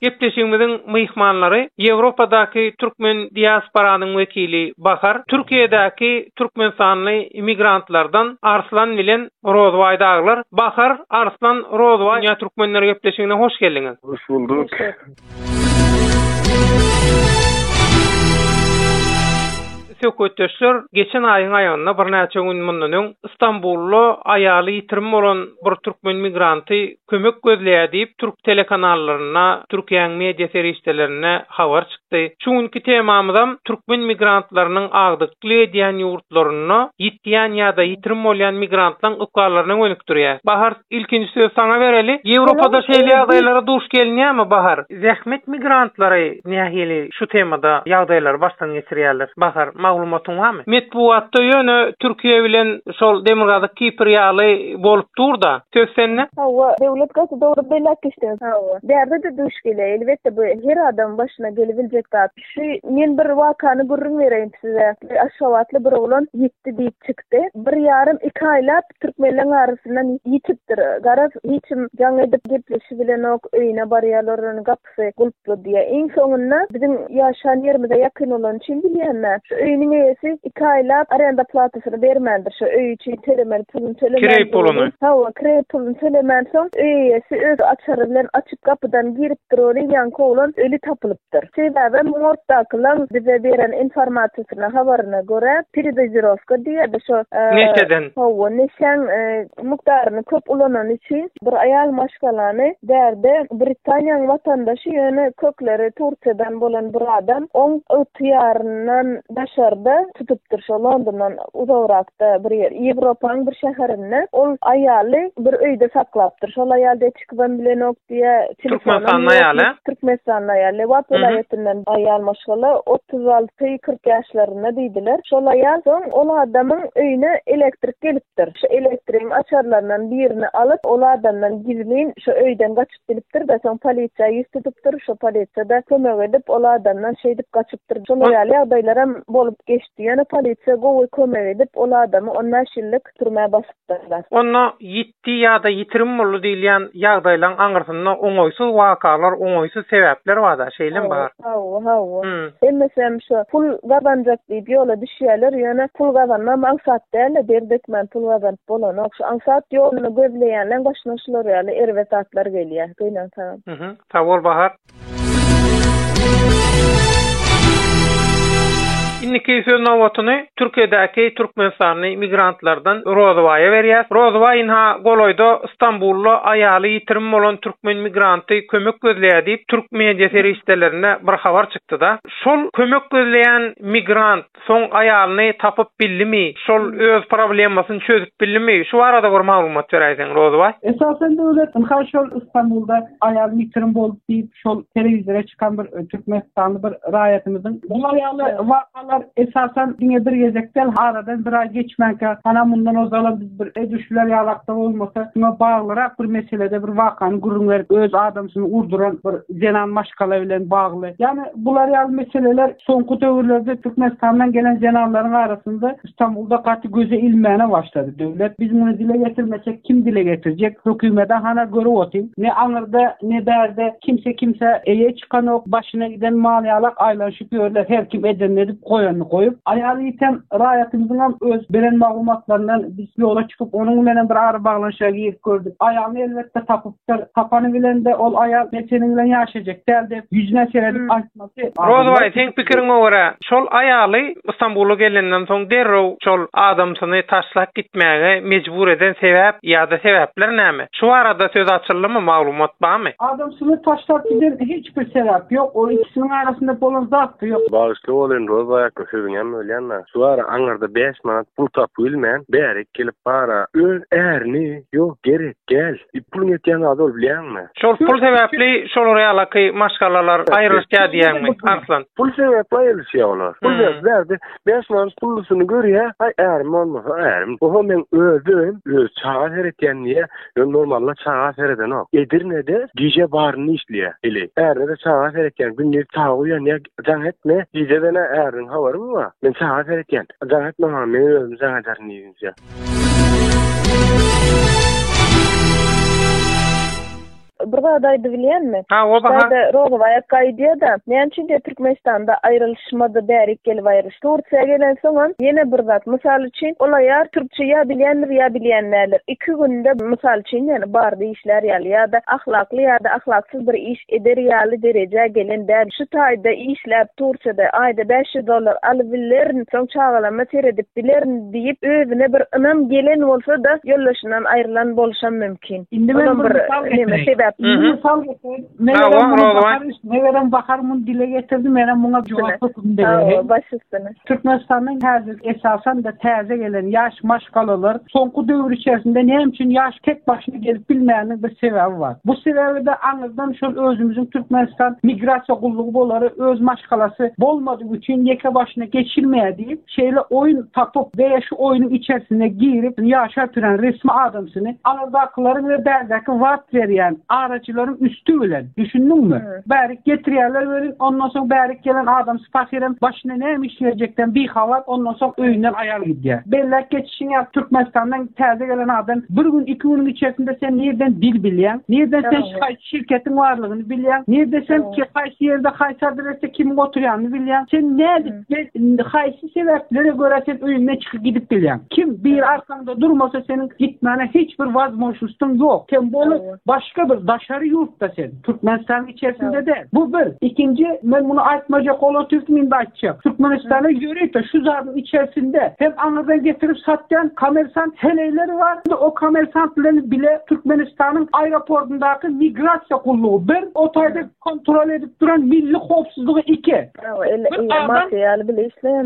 Gepleşigimiziň myhmanlary Ýewropadaky türkmen diasporanyň wekili Bahar, Türkiýedäki türkmenistanly immigrantlardan Arslan bilen Rozbaý dagylar. Bahar, Arslan, Rozbaý Dünýä Türkmenleri gepleşigine hoş geldiňiz! Hoş bulduk. Söhbetdeşler geçen aýyň aýagynda birnäçe gün mundan öň Stambulda aýaly ýitirim bolan bir türkmen migranty kömek gözleýär diýip, türk telekanallarynda, Türkiýäň media serişdelerinde habar çykdy. Şu günki temamyzam türkmen migrantlarynyň agdykly edýän ýurtlarynda ýitýän ýa-da ýitirim bolýan migrantlaň ykballaryna gönükdirýär. Bahar, ilkinji söz saňa bereli. Ýewropada şeýle ýagdaýlara duş gelinýärmi, Bahar? Zähmet migrantlary nähili şu temada ýagdaýlary başdan geçirýärler? Bahar, maglumatyň barmy? Metbugatda ýöne Türkiýe bilen şol Demirgazyk Kipr ýaly bolup dur-da. Söz sende. Hawa, döwlet gaty dogry belet işleýär. Hawa. Bärde-de duş gelýär. Elbetde, bu her adamyň başyna gelibiljek zat. Şu men bir wakany gürrüň bereýin size. Bir aşgabatly bir oglan ýitdi diýip çykdy. Bir ýarym, iki aýlap Türkmenleň arasyndan ýitipdir. Garaz, hiç kim jaň edip gepleşibilenok, öýüne barýarlaryň gapysy gulply diýýä. Iň soňunda biziň ýaşan ýerimize ýakyn bolany üçin bilýänme, şu öýüniň eýesi iki aýlap arenda platasyny bermändir. Şo öý üçin tölemeli puluny tölemän. Kireý puluny. Hawa, kireý puluny tölemän soň öý eýesi öz açary bilen açyp gapydan giripdir ony, ýaňky oglan öli tapylyp. diýipdir. Sebäbem morgdakylaň bize beren informasiýasyna, habaryna görä, peredozirowka diýýärdi şo, Neşeden. Hawa, neşäň mukdaryny köp ulanany üçin bir aýal maşgalany bärde Britaniýaň watandaşy, ýöne kökleri Turkiýadan bolan bir adam oň ygtyýaryndan daşarda tutupdyr, şo Londondan uzagrakda bir ýer, Ýewropaň bir şäherinde ol aýaly bir öýde saklapdyr. Şol aýal de Çykyban bilenok diýä. Türkmenistanly aýaly. Türkmenistanly aýal. Lebap welaýatyndan aýal maşgala 36-40 ýaşlarynda diýdiler. Şol aýal soň ol adamyň öýüne elektrik gelipdir. Şu elektrigiň açarlaryndan birini alyp, ol adamdan gizlin şu öýden gaçyp gidipdir-de, soň polisiýa ýüz tutupdyr. Şo polisiýa-da kömek edip, ol adamdan şeýdip gaçypdyr. Şolar ýaly ýagdaýlaram bolup geçdi. Ýöne polisiýa gowy kömek edip, ol adamy on bäş ýyllyk türmä basypdyrlar. Onda ýit Gitdi ýa-da ýitirim boldy diýilýän ýagdaýlaň aňyrsynda oňaýsyz wakalar, oňaýsyz sebäpler bar-da, şeýlem bar. Hawa, hawa. Hemmesem şo pul gazanjak diýip ýola düşýäler, ýöne pul gazanmam aňsat däl-de, der dökmän pul gazanyp bolanok. Şu aňsat ýoluny gözleýänleň başyna şular ýaly erbet zatlar gelýä. Gynansaňam. Sag bol Bahar. Indiki söz nobatyny Türkiýedäki türkmenistanly migrantlardan Rozybaýa berýäs. Rozybaý ynha, golaýda Stambulda aýaly ýitirim bolan türkmen migranty kömek gözleýär diýip, türk media serişdelerinde bir habar çykdy-da. Şol kömek gözleýän migrant. Soň aýalyny tapyp bildimi, şol öz problemasyny çözüp bildimi, şu barada bir maglumat beräýseň Rozybaý. Esasen Döwlet ynha şol Istanbulda aýalyny ýitirim boldy diýip şol telewizora çykan bir türkmenistanly bir raýatymyzyň bular ýaly wakalar esasen diňe bir gezek däl aradan bir aý geçmänkä ana mundan ozalam biz bir edilşiler ýalakda bolmasa şuňa baglyrak bir meselede bir wakany gürrüň berip öz adamsyny urduran bir zenan maşgala bilen bagly. Ýagny bular ýaly meseleler soňky döwürlerde Türkmenistandan gelen zenanlaryň arasynda Stambulda gaty göze ilmäne başlady. Döwlet biz muny dile getirmesek kim dile getirjek? Hökümede hana görüp otyň. Ne aňyrda, ne bärde kimse kimsä eýe çykanok. Başyna giden mal ýalak aýlanyşyp ýörler. Her kim edenini edip, goýanyny goýup. Aýaly ýiten raýatymyzyňam öz beren maglumatlaryndan biz ýola çykyp onuň bilenem bir ara baglanyşyga girip gördük. Aýalyny elbetde tapyp. Sir tapany bilen-de ol aýal neseniň bilen ýaşaýjak däl diýip, ýüzüne seredip aýtmasy. Rozubaý, seň pikiriňe görä, şol aýaly Stambula gelenden soň derrew şol adamsyny taşlap gitmäge mejbur eden sebäp ýa-da sebäpler näme? Şu barada söz açyldymy, maglumat barmy? Adamsyny taşlap giden hiç bir sebäp ýok. Ol ikisiniň arasynda bolan zat-da ýok. Bagyşly bolyn, Rozubaý aka, sözüňem bölýän-dä. Şu ara aňyrda bäş manat pul tapybilmän, bärik gelip bar-a. Öz ärini, ýok, gerek däl. E, puluň etýän zady ol bilýäňmi? Şol pul sebäpli şolar ýalaky maşgalalar aýrylyşýar diýýäňmi, Arslan? Pul sebäpli aýrylyşýar olar. Pul sebäpli bärde 5 manat pullusyny görýär, aý ärim bolmasa ärim. Oho men özüm öz çaga seretýän diýýär. Ýöne normalda çaga seredenok. Edirnede gije baryny işleýär. Hili. Ärine-de çaga seretýän. Gündiz çaga uýanýar, jaň etme. Gije-de nä äriniň habary mı bar? Men çaga seretýän. Jaň etme maňa, men özüm jaň ederin diýdi. Russiýa. bir zat aýdyp bilýänmi? Ha, o baha. Şeýde Rogowaýa gaýdýar-da, näme üçin diýip Türkmenistanda aýrylyşmady, bärik gelip aýrylyş. Tursiýa gelen soňam ýene bir zat. Mysal üçin, ol aýal türkçe ýa bilýändir, ýa bilýän däldir. Iki günde, mysal üçin, ýa bardy. işlär ýaly ýa-da ahlakly ýa-da ahlaksyz bir iş eder ýaly derejä gelen däl, şu taýda işläp turça-da, aýda bäş ýüz dollar alybilerin, soň çagalama seredip bilerin diýip, özüne bir ynam gelen bolsa-da, ýoldaşyndan aýrylan boluşam mümkin. Indi men bir mysal getireyim. Indi mysal getireyim. Megerem, Rozuwan. Megerem, Bahar muny dile getirdi, menem muňa jogap hökmünde bereýin. Hawa, baş üstüne. Türkmenistanda häzir esasan-da täze gelen ýaş maşgalalar soňky döwür içerisinde näme üçin ýaş tek başyna gelip bilmäniniň bir sebäbi bar. Bu sebäbi-de aňyrdan şol özümiziň Türkmenistan migrasiýa gullugy bolary öz maşgalasy bolmadygy üçin ýeke başyna geçilmeýär diýip, şeýle oýun tapyp we şu oýunyň içerisine girip ýaşap ýören resmi adamsyny aňyrdakylaryň we bärdäki wagt berýän araçylaryň üsti bilen, düşündiňmi? Bärik getirýärler welin, ondan soň bärik gelen adamsy pahyram başyna näme iş berjekden bihabar, ondan soň öýünden aýal gidýär. Belläp geçişiň ýaly, Türkmenistandan täze gelen adam bir gün, iki günüň içerisinde sen nirden dil bilýäň, nirden sen haýsy şirketiň barlygyny bilýäň, nirde sen ki, haýsy ýerde, haýsy adresde kimiň oturýanyny bilýäň, sen nädip we haýsy sebäplere görä sen öýüňden çykyp gidip bilýäň. Kim biri arkaňda durmasa seniň gitmäne hiç bir wazmožnýsdyň ýok. Sen bolu başga bir daşary ýurtda sen. Türkmenistanyň içerisinde-de bu bir. Ikinji, men muny aýtmajak bolan tilsim indi aýtjak. Türkmenistanda ýörite şu zadyň içerisinde hem aňyrdan getirip satýan kommersant heleýleri bar, hem-de o kommersant bilen bile Türkmenistanyň aeroportundaky migrasiýa gullugy, bir, o taýda kontrol edip duran milli howpsuzlygy, iki, bir adam,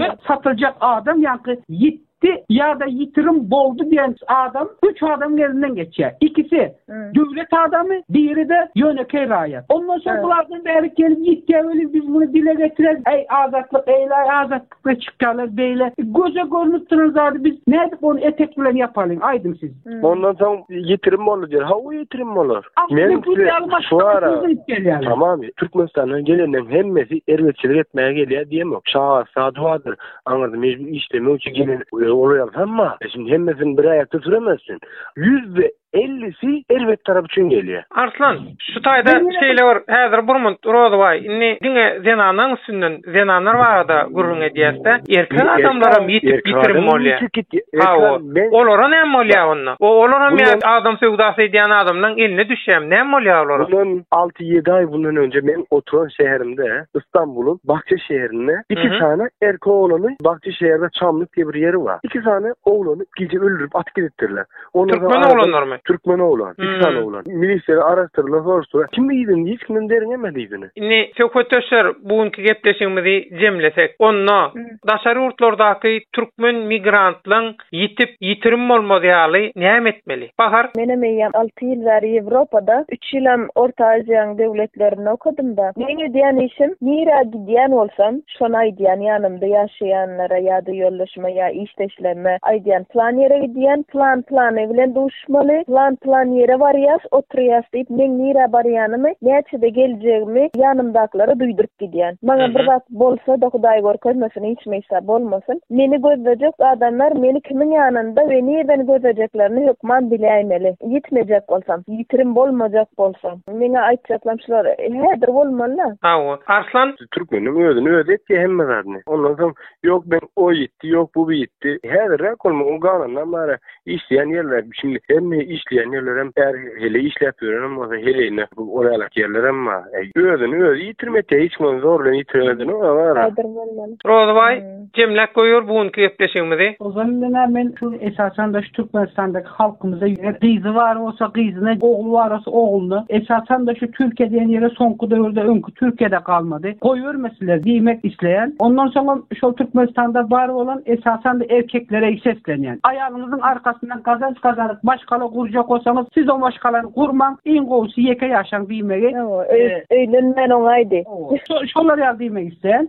bir satyljak adam, ýaňky ýit. gitdi ýa-da ýitirim boldy diýen adam üç adamyň elinden geçýär. Ikisi döwlet adamy, biri-de ýönekeý raýat. Ondan soň bulardan bärik gelip ýitýär welin, biz muny dile getireris. Äý, Azatlyk, eýle-aý Azatlykda çykýarlar beýle göze görnüp duran zady biz nädip ony etek bilen ýapalyň, aýdyň siz? Ondan soň ýitirim boldy diýer. Hawa, ýitirim bolar. Men size Tamam, Türkmenistandan geleniň hemmesi erbetçilik etmäge gelýär diýemok. Şagasy, sady bardyr. aňyrda mejbury işlemek üçin gelen olaryň hemma şimdi hemmesini bir aýakda süremezsin. Ýüzde ellisi erbet tarap üçin gelýär. Arslan, şu taýda şeýle bir häzir Burmut Rozybaý indi diňe zenanlaryň üstünden zenanlar barada gürrüň edýäs-de, erkek adamlaram ýitip ýitirim bolýar. Hawa, olara näme bolýar onda? Olaram ýa adam söwdasy edýän adamlaryň eline düşýärmi, näme bolýar olara? alty ýedi aý bundan önce men oturan şäherimde Istanbulyň Bahçe şäherinde iki sany erkek oglany Bahçe şäherinde Çamlyk diýip bir ýeri bar. İki sany oglany gije öldürip atyp gidipdirler. Türkmen oglanlarymy? Türkmen oglan. İki sany oglan. Milisiýa araşdyrdylar, soruşdylar. Kim iýdin? Hiç kimden derňemedi iýdini. Indi söhbetdeşler bu günki gepleşigimizi jemlesek. Onda daşary ýurtlardaky türkmen migrantlaryň Ýitip, ýitirim bolmaz ýaly näme etmeli? Bahar. Menem eýýäm alty ýyl bäri Ýewropada, üç ýylam Orta Aziýaň döwletlerinde okadym-da. Meň edýän işim, nirä gidýän bolsam, şony aýdýan, ýanymda ýaşaýanlara ýa-da ýoldaşyma ýa işdeşlerime aýdýan, plan ýere gidýän, plan plany bilen duşýan, Şumaly, plan-plan ýere barýas, oturýas diýip, meň nirä barýanymy, näçede geljegimi ýanymdakylara duýduryp gidýän. Maňa bir zat bolsa-da, Hudaý görkezmesin, hiç mysa bolmasyn, meni gözlejek adamlar meni kimiň ýanynda we nirden gözlejeklerini hökman biläýmeli. Ýitmejek bolsam, ýitirim bolmajak bolsa, meňe aýtjaklam şular häzir bolmaly-a. Hawa, Arslan. Türkmeniň özüni özi etýä hemme zadyny. Ondan soň Yok men o gitti, yok bu gitti. Häzir rak olma, o galandan bara işleyen yerler. Şimdi hem mi işleyen yerler hem her hele işlep yörenem olsa heleyine bu oralak yerler hem ma. E, özünü özü yitirmek ya hiç mi zorla yitirmedin o var. Adyr bolman. Rozybaý, jemläp goýur bu günki gepleşigimizi. Ozan menä men şu esasanda şu Türkmenistandaky halkymyza ýer gyzy bar bolsa gyzyna ogly bar bolsa oglyna esasanda şu Türkiýe diýen ýere soňky döwürde öňki Türkiýede galmady. Goýbermesiler diýmek isleýän. Ondan soňam şol Türkmenistanda bar bolan esasanda erkeklere seslenýän. Aýalyňyzyň arkasyndan gazanç gazanyp maşgala gurjak bolsaňyz siz o maşgalany gurmaň iň gowusy ýeke ýaşaň diýmegi. Öýlenmän oňaýdy. Şolar ýaly diýmek isleýän.